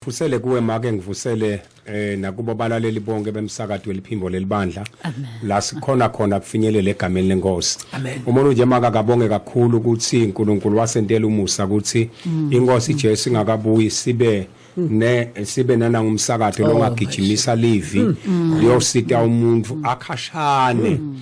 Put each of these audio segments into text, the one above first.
Fusele kuwe make ngivusele eh nakubo balaleli bonke bemsakado weliphimbo lelibandla la sikhona khona kufinyelela egameni lenkosi umuntu nje maka kabonge kakhulu ukuthi uNkulunkulu wasentela umusa ukuthi mm. inkosi Jesu ingakabuyi sibe ne sibe nana ngumsakatho oh, longagijimisa livi mm. liyosita umuntu akhashane mm.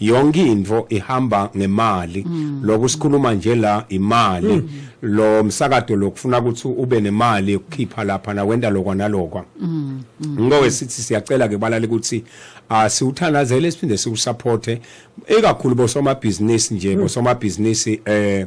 yonke into ihamba ngemali mm. lokho sikhuluma nje la imali mm. lo msakado lokufuna ukuthi ube nemali ukukhipha lapha na wenda lokwa nalokwa mm. mm. ngowe sithi siyacela ke balale ukuthi asiwuthandazele ah, siphinde siwusupporte ikakhulu bosomabhizinisi nje mm. bosomabhizinisi eh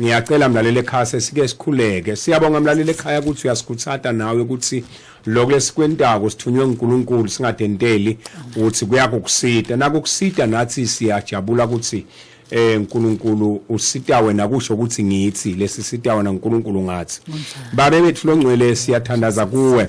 Ngiyacela mlaleli ekhaya sesike sikhuleke. Siyabonga mlaleli ekhaya ukuthi uyasikhuthata nawe ukuthi lokho lesikwentako sithunywe uNkulunkulu singadenteli ukuthi kuyakukusita. Nakukusita nathi siyajabula ukuthi eh uNkulunkulu usita wena kusho ukuthi ngithi lesi sita wena uNkulunkulu ngathi. Babe bethu longcwele siyathandaza kuwe.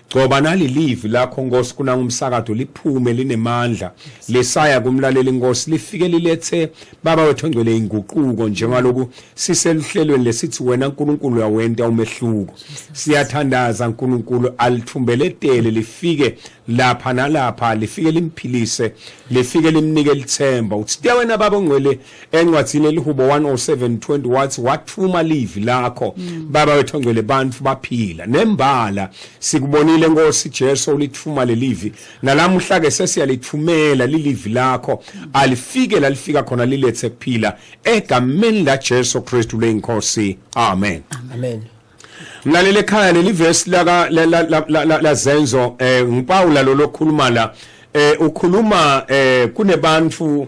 Gcoba nali live lakho Nkosi kuna umsakado liphume linemandla lesaya kumlaleli Nkosi lifike lilethe baba wethu ngcwele inguquko njengaloku siseluhlelweni lesithi wena uNkulunkulu uyawenta umehluko siyathandaza uNkulunkulu alithumbeletele lifike lapha nalapha lifike limphilise lifike limnike lithemba uthi wena baba ongcwele encwadini elihubo 10720 wathi wathuma livi lakho mm. baba wethu ongcwele bantu baphila nembala sikubonile nkosi Jesu ulithuma lelivi nalamuhla ke sesiyalithumela lilivi lakho mm. alifike lalifika khona lilethe kuphila egameni la Jesu Kristu leyinkosi amen amen mlalele ekhaya leli verse laka lazenzo eh ngipawula lo lokhuluma la eh ukhuluma eh kunebantu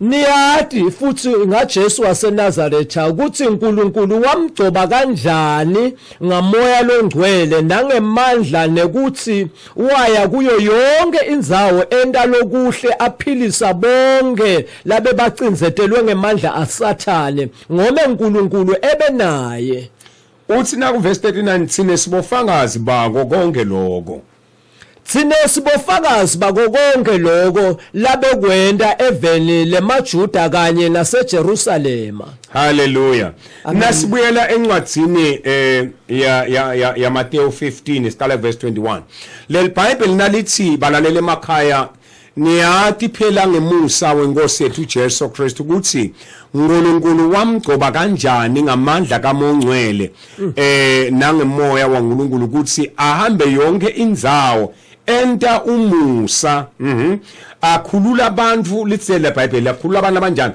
Niyati futhi ngaJesu waseNazaretha ukuthi uNkulunkulu wamgcoba kanjani ngamoya longcwele nangemandla nekuthi waya kuyo yonke indzawo enta lokuhle aphilisa bonke labebacinzetelwe ngemandla aSathane ngome uNkulunkulu ebe naye. Uthi naku verse 39 thina sibofakazi bako konke lokho. Thina sibofakazi bako konke lokho labekwenta eveni lemaJuda kanye naseJerusalema. Hallelujah. Nasibuyela encwadzini eh ya ya ya, ya Matthew 15 siqala verse 21. Leli Bible nalithi balalele emakhaya Ngiyati phela ngemusa weNkosi yethu uJesu Kristu ukuthi uNkulunkulu wamgcoba kanjani ngamandla kaMongcwele eh nangemoya waNkulunkulu ukuthi ahambe yonke indzawo enta umusa mhm akhulula abantu litsele iBhayibheli akhulula abantu abanjani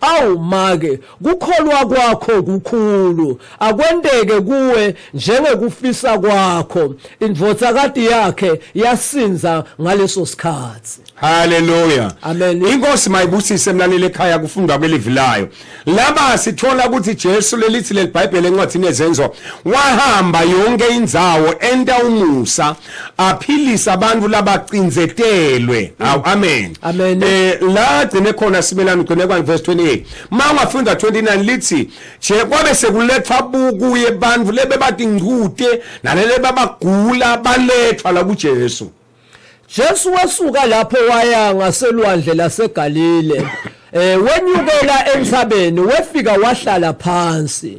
Awu make kukholwa kwakho kukhulu akwenteke kuwe njengekufisa kwakho indvodzakati yakhe yasinza ngaleso sikhatsi Hallelujah. Amen. Inkosi mayibusise mlaleli ekhaya kufundwa kwelivi layo. Laba sithola ukuthi Jesu lelithi lelibhayibheli encwadini yezenzo wahamba yonke indzawo enta umusa aphilisa abantu labacinzetelwe awu amen Amen. eh la gcine khona simelana ugcine kwa verse 28 ma ungafunda 29 lithi je kwabe sekuletha buku yebantu lebe bathi ngcute nalele babagula balethwa la kuJesu Jesu wasuka lapho waya ngaselwandle laseGalile. Eh wenyukela entsabeni wefika wahlala phansi.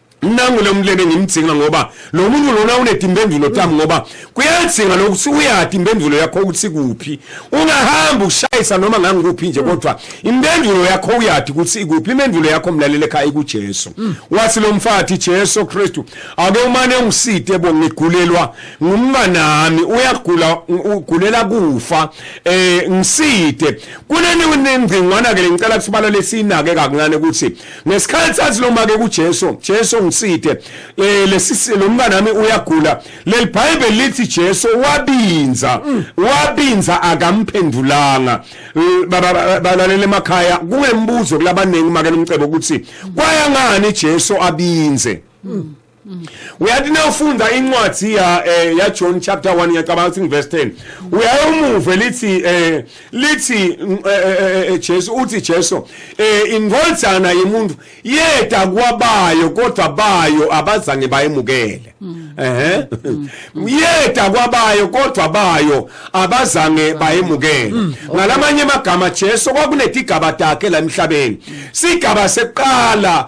nangu lo mlebe ngimdzinga ngoba lo muntu lona unedi impendulo tami ngoba kuyadzinga lokuthi uyati impendulo yakho ukuthi kuphi ungahamba ushayisa noma ngangikuphi nje kodwa impendulo yakho uyati ukuthi ikuphi impendulo yakho mlalele ekhaya ikujesu wathi lo mfathi jesu kristu ake umane ungiside bo ngigulelwa ngumnganami uyagula ugulela kufa um ngiside kuneningcingwana-ke le ngicela kusibalale siyinake kakuncane ukuthi ngesikhathi sathi noma ke kuJesu Jesu ngiside eh, lesisi lo mntana wami uyagula leli bible lithi Jesu wabinza mm. wabinza akamphendulanga eh, balalele emakhaya kungembuzo kulabaningi make lomcebo ukuthi kwayangani Jesu abinze mm. uyathi nawufunda incwadi ya eh, ya John chapter 1 ngiyacabanga ukuthi verse 10 uyayomuve lithi eh lithi mm, eh, eh, Jesu uthi Jesu eh ingolzana yemuntu yeda kwabayo kodwa bayo abazange bayemukele mm. ehe mm. yeda kwabayo kodwa bayo abazange bayemukele ngalamanye amagama Jesu kwakunetigaba takhe la emhlabeni sigaba seqala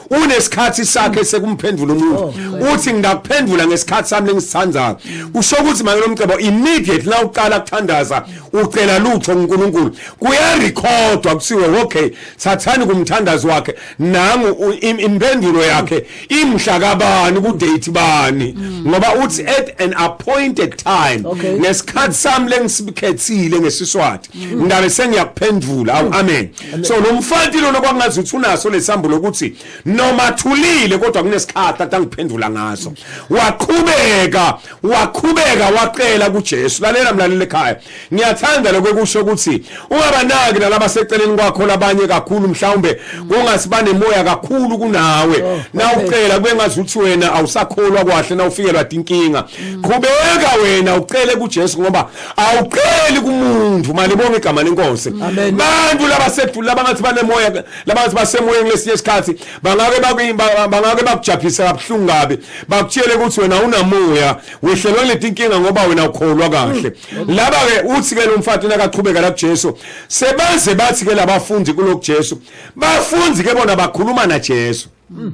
unesikhathi sakhe sekumphendula umuntu oh, uthi ngingakuphendula ngesikhathi sami lengisithandayo kusho ukuthi manje lomcebo immediate la uqala kuthandaza ucela lutho uNkulunkulu kuyarecordwa kusiwe okay sathani kumthandazi wakhe nangu impendulo yakhe imhla kabani ku date bani mm. ngoba uthi at an appointed time ngesikhathi sami lengisikhethile ngesiswati mm. ngabe sengiyakuphendula amen so lo mfanti lona kwakungazi ukuthi unaso nesambulo ukuthi noma thulile kodwa kunesikhathi athi angiphendula ngaso waqhubeka waqhubeka wacela kuJesu lalela mlaleli ekhaya ngiyathanda lokho kusho ukuthi ungabanaki nalaba seceleni kwakho labanye kakhulu mhlawumbe kungasibane moya kakhulu kunawe oh, na ucela kube ngazi ukuthi wena awusakholwa kwahle na ufikelwa inkinga qhubeka wena ucele kuJesu ngoba awuqeli kumuntu mali bonke igama lenkosi abantu labasedula labangathi banemoya labangathi basemoyeni lesinye isikhathi bangake bangake bakujaphise kabuhlungu kabi bakutshele ukuthi wena unamoya wehlelwe leti inkinga ngoba wena ukholwa kahle mm. laba ke uthi ke lo mfati nakaqhubeka la kuJesu sebaze bathi ke labafundi kulo kuJesu bafundi ke bona bakhuluma na Jesu mm.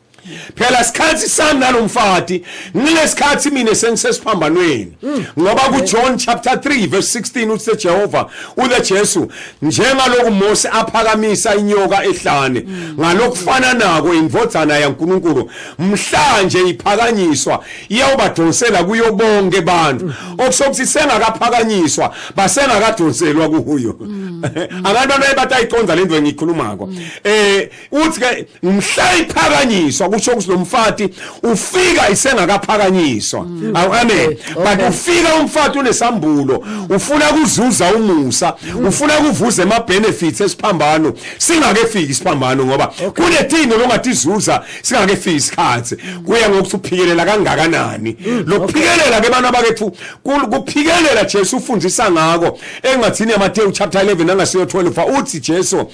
phela sikhathi sami nalomfati ngilesikhathi mina sengisesiphambanweni mm. ngoba ku John chapter 3 verse 16 uthe Jehova uthe Jesu njengaloku Mose aphakamisa inyoka ehlane mm. ngalokufana nako indvodzana yaNkuluNkulu mhlanje iphakanyiswa iyawubadonsela kuyo bonke abantu mm. okusokuthi sengakaphakanyiswa basengakadonselwa kuyo abantu abaye batayiconza lento engikhulumako eh uthi ke ngimhla iphakanyiswa kusho ukuthi lo mfati ufika isengakaphakanyiswa mm. awu amen but ufika umfati unesambulo ufuna kuzuza umusa mm. ufuna kuvuza ema benefits esiphambano singakefiki isiphambano ngoba kunethingo longatizuza singakefiki isikhathi mm. kuya ngokuthi uphikelela kangakanani lokuphikelela ke bana bakethu kuphikelela Jesu ufundisa ngako engathini yaMateyu chapter 11 angasiyo 12 uthi Jesu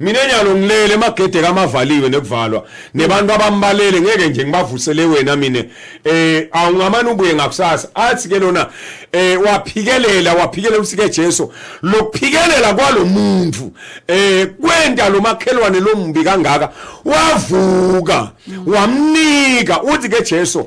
mina nyalo ngilele emagede kamavaliwe nekuvalwa nebantu abambalele ngeke nje ngibavusele wena mina eh awungamane ubuye ngakusasa athi ke lona eh waphikelela waphikelela usike Jesu lokuphikelela kwalomuntu eh kwenta lomakhelwane lombi kangaka wavuka wamnika uthi ke Jesu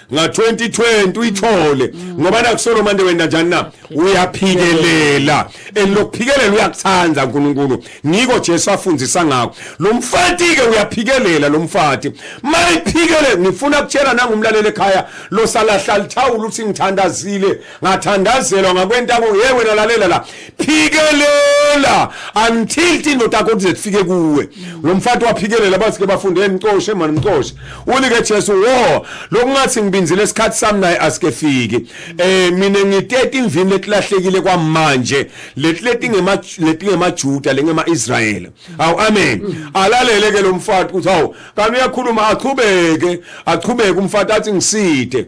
nga 2020 uyithole ngoba nakusolo manje wena njani na uyaphikelela and lokuphikelela uyakuthanda uNkulunkulu niko Jesu afundisa ngakho lo mfati ke uyaphikelela lo mfati mayiphikele ngifuna kutshela nangumlaleli ekhaya lo salahla lithawula uthi ngithandazile ngathandazelwa ngakwentako ye wena lalela la phikelela until tindoda yakho kuze kufike kuwe lo mfati waphikelela basike bafunde ngicoshe mani mcoshe ulike Jesu wo lokungathi ngibinzile isikhathi sami naye asike fiki eh mina ngitete imvini letilahlekile kwamanje letileti ngema letingemajuda lengema Israel awu amen alalele ke lo mfati uthi awu kanti uyakhuluma aqhubeke aqhubeke umfati athi ngiside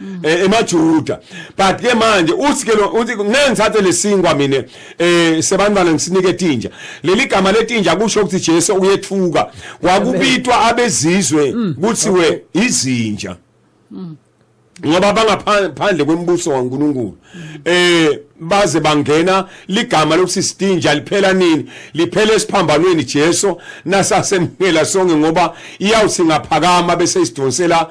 Mm. Eh, emajuda but ke manje uthi ke uthi ngeke ngithathe lesinkwa mina eh sebantwana ngisinike tinja leli gama letinja kusho ukuthi Jesu uyethuka kwakubitwa abezizwe mm. kuthiwe izinja mm. ngoba bangaphandle kwemibuso kaNkuluNkulu eh baze bangena ligama lokuthi sidinja liphela nini liphela esiphambanweni Jesu nasasemhela sonke ngoba iyawuthi ngaphakama bese isidonsela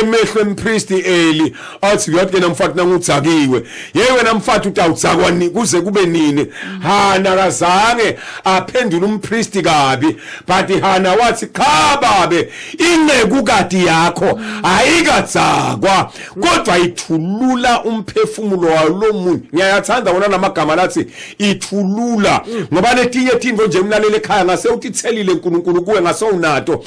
emehlo empristi eli athi uyathi yena mfati nangudzakiwe yey wena mfati utawudzakwa kuze kube nini hana kazange aphendula umpristi kabi but hana wathi cha babe inceku kati yakho ayikadzakwa kodwa ithulula umphefumulo walomuntu ngiyayathanda wona namagama lathi ithulula ngoba letinye tintfo nje mlalele ekhaya ngase utithelile uNkulunkulu kuwe ngase unato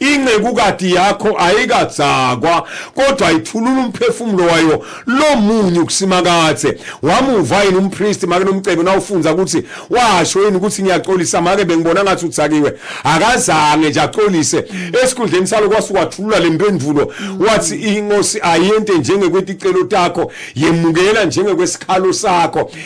incekukati yakho ayikadzakwa kodwa ithulula umphefumulo wayo lomunye ukusimakathe wamuva yini umpriest make nomcebo nawufundza ukuthi washo yini ukuthi ngiyaxolisa make bengibona ngathi uthakiwe akazange nje axolise esikhundleni salo kwase wathulula le mpendulo wathi inkosi ayente njengekweti celo takho yemukela njengekwesikhalo sakho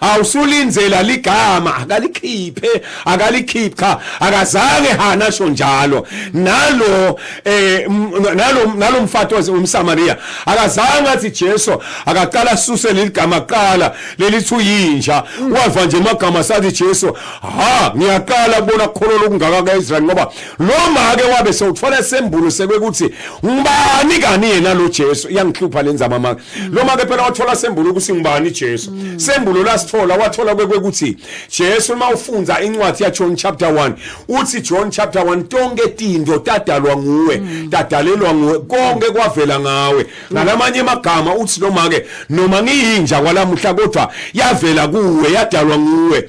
awusulinzela ligama akalikhiphe akalikhiphi cha akazange hana asho njalo nalo eh nalo nalo mfathi umsamaria akazange athi Jesu akaqala suse leligama kuqala lelithi uyinja mm. wava nje amagama sathi Jesu ha ngiyaqala kubona kholo lokungaka kaIsrael ngoba lo make wabe sewuthola sembulo sekwekuthi ngubani kani yena lo Jesu iyangihlupha lenzama maka noma ke phela wathola sembulo ukuthi ngubani Jesu mm. sembulo lasithola wathola kwekuthi Jesu uma ufunza incwadi ya John chapter 1 uthi John chapter 1 tonke tinto tadalwa nguwe mm. tadalelwa nguwe konke kwavela ngawe mm. ngalamanye amagama uthi noma ke noma ngiyinja kwalamuhla kodwa yavela kuwe yadalwa nguwe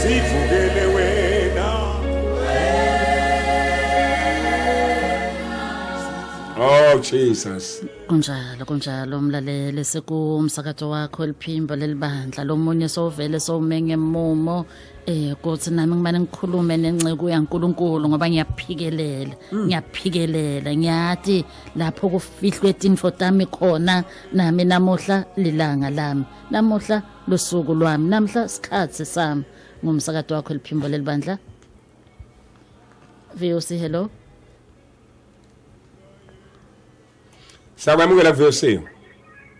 sivukele wena Oh Jesus. Kunjalo kunjalo mlaleli sikumsakazo wakho eliphimbo lelibandla lomunye sovele sowumenge mumo eh kuthi nami ngimane ngikhulume nenceku yaNkuluNkulu ngoba ngiyaphikelela ngiyaphikelela ngiyathi lapho kufihlwe tinfo tami khona nami namuhla lilanga lami namuhla lusuku lwami namhla sikhathi sami ngumsakado wakho eliphimbo lelibandla VOC hello Sakwamukela VOC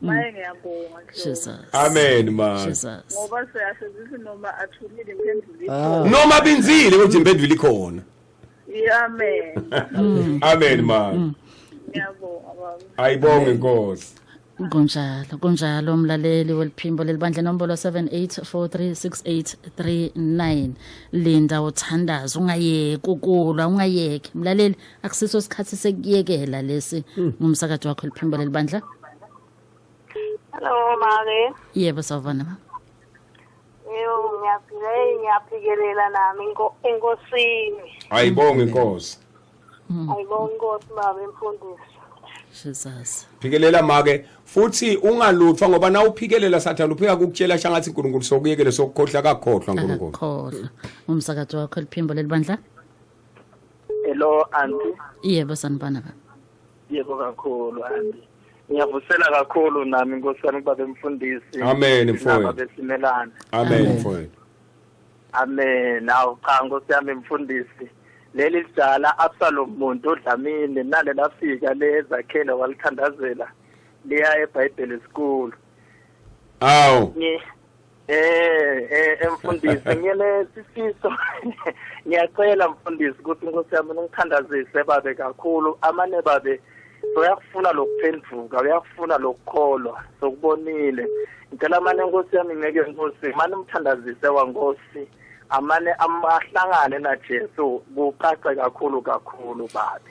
maye ngiyabonga Jesus amen ma Jesus ngoba siyasebenzisa noma athulile impenduli ah. noma binzile kodwa impenduli ikhona amen mm. amen ma mm. ngiyabonga ayibonge inkosi kunjalo kunjalo mlaleli weliphimbo lelibandla nombolo 78436839 linda uthandaza ungayeki ukulwa ungayeki mlaleli akusiso isikhathi sekuyekela lesi hmm. ngumsakathi wakho liphimbo lelibandla hello make yebo sawubona ma yebo ngiyaphila ngiyaphikelela nami enkosini ayibonge inkosi hmm. ayibonge inkosi baba imfundisi Jesus phikelela make futhi ungalutfwa ngoba na uphikelela sathana uphika kukutshela shangathi uNkulunkulu sokuyekele sokukhohla kakhohlwa uNkulunkulu khohla umsakazo wakho liphimbo lelibandla hello anti yebo sanibona baba yebo kakhulu anti ngiyavusela kakhulu nami nkosi yami kubaba emfundisi amen mfowethu besimelana amen mfowethu amen awu cha nkosi yami mfundisi leli lidala absalom muntu odlamini nale lafika lezakhele walithandazela liya ebhayibheli school awu Eh eh emfundisi ngiyele sifiso ngiyacela mfundisi ukuthi inkosi yami ningithandazise babe kakhulu amane babe uyakufuna lokuphenduka uyakufuna lokukholwa sokubonile ngicela amane inkosi yami ngeke inkosi mani umthandazise wankosi amane amahlangane naJesu kucace kakhulu kakhulu babi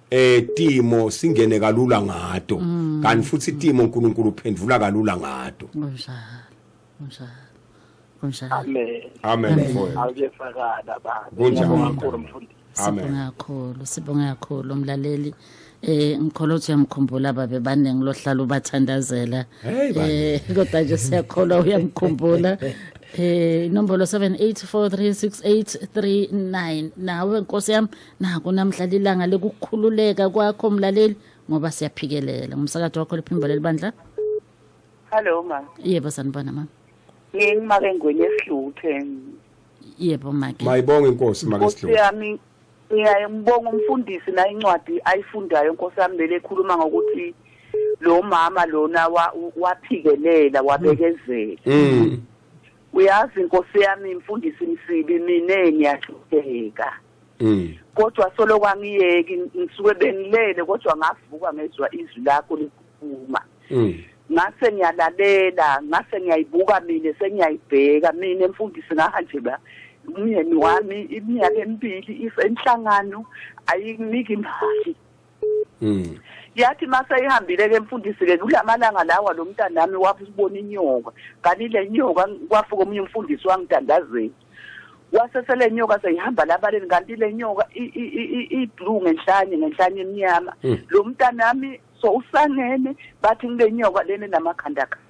eh timo singene kalula ngato mm. kanti futhi timo uNkulunkulu uphendula kalula ngato kunjalo kunjalo kunjalo amen amen mfowethu awuyefakala baba kunjalo mkhulu mfundisi sibonga kakhulu sibonga kakhulu umlaleli eh ngikholwa ukuthi uyamkhumbula babe baningi lohlala ubathandazela eh kodwa nje siyakholwa uyamkhumbula eh inombolo 78436839 nawe nkosi yami naku namhla lilanga lokukhululeka kwakho mlaleli ngoba siyaphikelela ngumsakathi wakho liphimbo lelibandla Hello ma. yebo sanibona mama Ngingimake ngwenye esihluthe. yebo make mayibonge inkosi make Nkosi sidlule yami ngiyaye ngibonga umfundisi na incwadi ayifundayo Nkosi yami lele ekhuluma ngokuthi lo mama lona wa- waphikelela wabekezela. mm Uyazi Nkosi yami mfundisi msibi mina ngiyahlupheka. Mm. Kodwa solo kwangiyeki ngisuke bengilele kodwa ngavuka ngezwa izwi lakho likhuluma. Mm. ngase ngiyalalela ngase ngiyayibuka mina sengiyayibheka mina mfundisi ngahanje ba umyeni wami iminyaka emibili isenhlangano ayinginiki imali Mm. yathi maseyihambile ke mfundisi ke kulamalanga lawa lo mntanami wabona inyoka kanti le nyoka kwafuka omunye umfundisi wangitandazeni wase sele nyoka seyihamba labaleni kanti le nyoka i-blue ngenhlanye ngenhlanye emnyama hmm. lo mntanami so usangene bathi ngile nyoka lene namakhanda khanda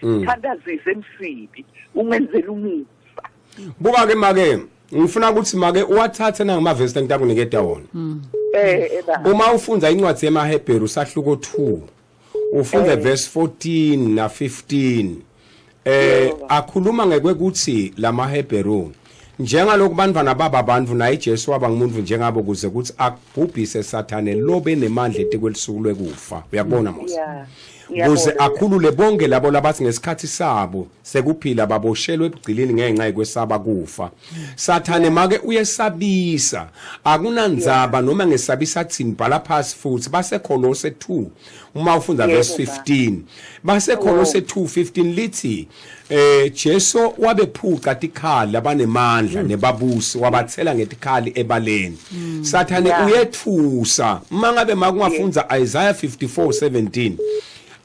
mm. thandazise emsibi umenzela umusa buka ke make ngifuna ukuthi make uwathathe nangamavesi engitakuniketa wona mm. eh, eh, uma ufunda incwadi yemahebheru usahluko 2 ufunda eh. verse 14 na 15 eh akhuluma ngekwekuthi lamahebheru njengalokhu banivana baba abantu naye Jesu waba ngumuntu njengabo kuze kuthi akubhubhise sathane lo benemandla etekwelisuku lwekufa uyakubona Mose kuze akhulule bonke labo labathi ngesikhathi sabo sekuphila baboshelwe ebugcilini ngenxa yekwesaba kufa sathane make uyesabisa akunandzaba noma ngesabisa athini bhala phasi futhi baseKholose 2 uma ufunda verse 15 baseKholose 2:15 lithi Eh Jesu wabephuca tikhali abanemandla mm. nebabusi wabathela ngetikhali ebaleni. Mm. Sathane yeah. uyethusa mangabe makungafunza yeah. Isaiah 54:17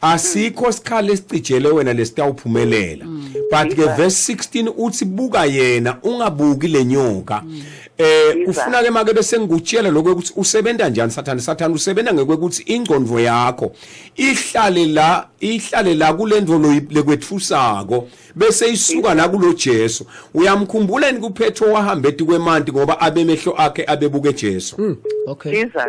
asikho sikhali esicijele wena lesitawuphumelela. Mm. But ke verse 16 uthi buka yena ungabuki lenyoka. Mm. eh ufuna ke make bese ngikutshela lokho ukuthi usebenza njani sathane sathane usebenza ngekwekuthi ingcondvo yakho ihlale la ihlale la kulento loyilekwethusako bese isuka la kulo Jesu uyamkhumbula yini kuphetho wahambe ethi kwemanti ngoba abemehlo akhe abebuke Jesu hmm, okay Jesus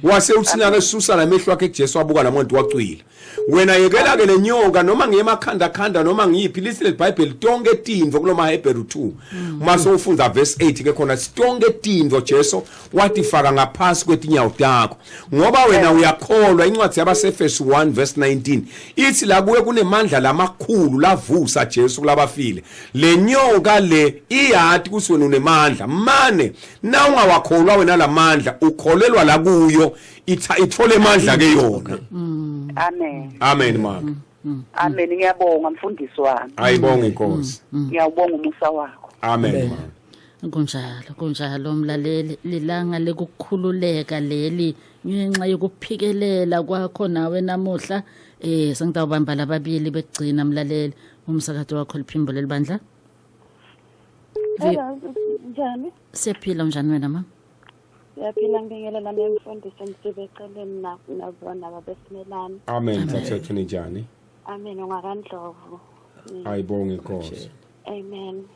wase uthina ke susa lamehlo akhe kuJesu wabuka lamuntu wacwila wena yekela ke lenyoka noma ngiyemakhanda khanda noma ngiyiphi lisi leBhayibheli tonke tindvo kuloma Hebrew 2 hmm. uma sowufunda verse 8 ke khona sitonke tindvo Jesu watifaka ngaphansi kwetinyawo takho ngoba wena uyakholwa incwadi yabaseFesu 1 verse 19 ithi la kuwe kunemandla lamakhulu lavusa Jesu kulabafile lenyoka le iyati kuthi wena unemandla mane na ungawakholwa wena lamandla ukholelwa la kuyo itha ithole amandla ke yona mm. amen amen mama mm, mm, amen ngiyabonga mfundisi wami ayibonga inkosi ngiyawubonga umusa wakho amen mama kunjalo kunjalo mlaleli lilanga likukhululeka leli ngenxa yokuphikelela kwakho nawe namuhla eh sengitawubamba lababili bekugcina mlaleli umsakazo wakho liphimbo lelibandla Hello, njani? siyaphila unjani wena mama Siyaphila ngibingelela nemfundiso ngisibe eceleni na- nabona babesimelani. amen thathethu ninjani Amen ungakandlovu. ayibonge inkosi Amen.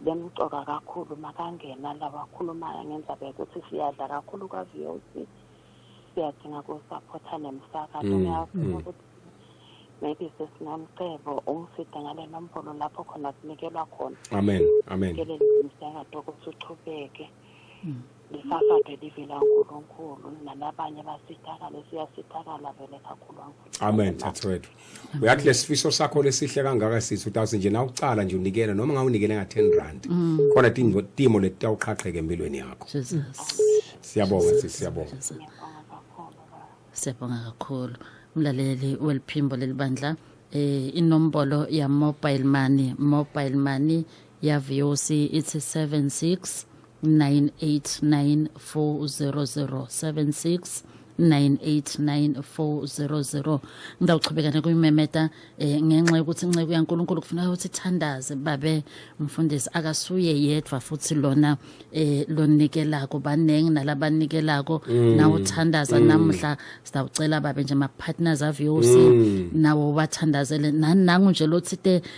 bemcoka kakhulu makangena la wakhulumayo ngendaba yokuthi siyadla kakhulu kwa-VOC siyadinga kusaphotha nemisakazo mm, ngiyafuna mm. ukuthi maybe sesinamcebo ungifide ngale nombolo lapho khona sinikelwa khona amen amen ngelele umsakazo ukuthi uchubeke mm. Lisafade livela uNkulunkulu nanabanye basithakale siyasithakala vele kakhulu uNkulunkulu. Amen thathwethu. Uyathi lesifiso sakho lesihle kangaka sithi utawuthi nje na ucala nje unikele noma ngawunikele nga 10 rand. Mm. Khona tingo timo letawuqhaqheke empilweni yakho. Jesus. Siyabonga sithi siyabonga. Siyabonga kakhulu. Mlaleli weliphimbo lelibandla eh inombolo ya mobile money mobile money yaVOC ithi 76 989400769894000 9894000 ngawuchubeka nekuyimemeta eh, ngenxa yokuthi inceku yaNkulunkulu kufuneka ukuthi ithandaze babe mfundisi akasuye yedwa futhi lona eh lonikelako baningi nalabanikelako mm. nawo thandaza mm. namuhla sawucela babe nje ma partners of yours mm. nawo bathandazele nanangu nje lothite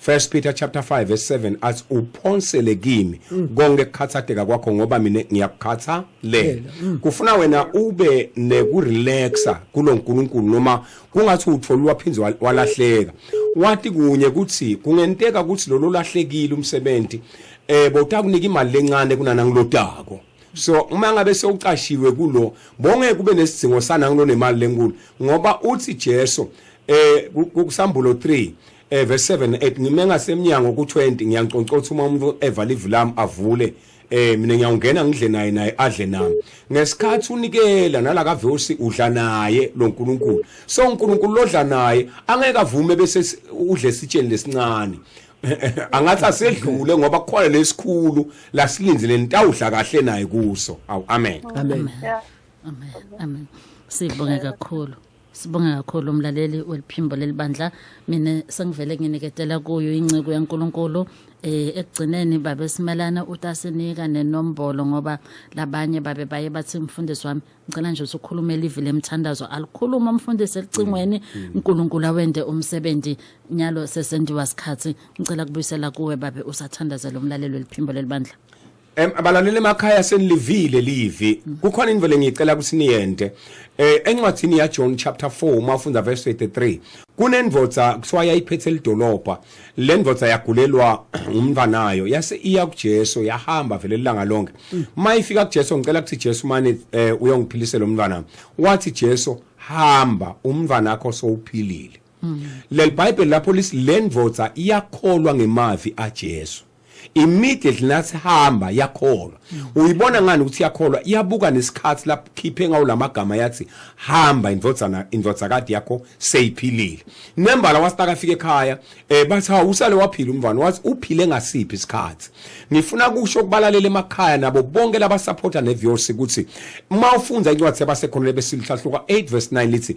First Peter chapter 5 verse 7 athi uphonsele kimi mm. konke kukhathateka kwakho ngoba mina ngiyakukhatha le mm. kufuna wena ube neku relaxa kuloNkulunkulu noma kungathi utholwa phinzi walahleka wati kunye kuthi kungenteka ukuthi lolo lahlekile umsebenzi eh bowutakunika imali lencane kunana ngilodako so uma ngabe sewucashiwe kulo bonge kube nesidingo sana ngilo nemali lenkulu ngoba uthi Jesu eh kusambulo 3 eh verse 7 8 ngime ngasemnyango ku20 ngiyanconcotha uma umuntu evala ivu lami avule eh mina ngiyawungena ngidle naye naye adle nami ngesikhathi unikela nala ka verse udla naye lo nkulunkulu so unkulunkulu lodla naye angeke avume bese udle sitsheni lesincane angathi asedlule ngoba kukhona lesikhulu lasilindile nitawudla kahle naye kuso awu amen amen amen amen sibonge kakhulu sibonge kakhulu umlaleli weliphimbo lelibandla mina sengivele nginiketela kuyo inciko yaNkuluNkulu eh ekugcineni babe simelana utasinika nenombolo ngoba labanye babe baye bathi mfundisi wami ngicela nje usukhulumela ivi lemthandazo alikhuluma umfundisi elicingweni mm, mm. uNkulunkulu awende umsebenzi nyalo sesendiwa sikhathi ngicela kubuyisela kuwe babe usathandazela umlalelo weliphimbo lelibandla Em abalaleli emakhaya senilivile livi. Kukhona into vele ngicela ukuthi niyente. Eh encwadini ya John chapter 4 uma ufunda verse 83 kunendvodza kuthiwa yayiphethe lidolobha. Lendvodza yagulelwa umntanayo yase iya kuJesu yahamba vele langa lonke. Mayifika kuJesu ngicela ukuthi Jesu mani eh, uyongiphilisela umntwana. Wathi Jesu hamba umntwana wakho sowuphilile. Lelibhayibheli lapho lisilendvodza iyakholwa ngemavi aJesu. immediately nathi hamba yakholwa uyibona ngani ukuthi yakholwa iyabuka nesikhathi lapho khiphe ngawo lamagama yathi hamba indvodzana indvodzakade yakho seyiphilile nembala wasitaka afike ekhaya eh bathi ha usale waphila umvana wathi uphile ngasiphi isikhathi ngifuna kusho kubalalela emakhaya nabo bonke laba supporter ne viewers ukuthi uma ufunda incwadi yabasekhona besilihluka 8 verse 9 lithi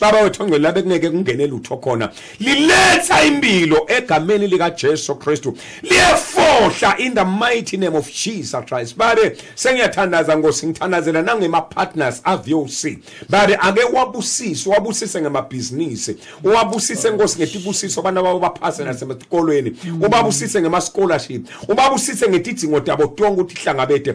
baba wethu ongcwele labe kungeke kungene lutho khona liletha impilo egameni likaJesu Kristu liyefohla in the mighty name of Jesus Christ babe sengiyathandaza ngosi ngithandazela nangema partners aVOC babe ake wabusise wabusise ngemabhizinisi uwabusise nkosi ngetibusiso abantu babo baphase nasemakolweni ubabusise ngema scholarship ubabusise ngetidzingo tabo tonke ukuthi hlangabete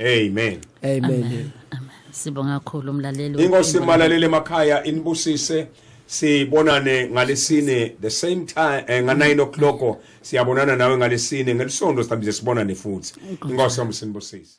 Amen. Amen. Sibonga kakhulu umlaleli. Inkosi malalele emakhaya inibusise. sibonane ngalesine the same time eh, nga 9 o'clock siyabonana nawe ngalesine ngelisonto sihlambise sibonane futhi inkosi yomsinibusise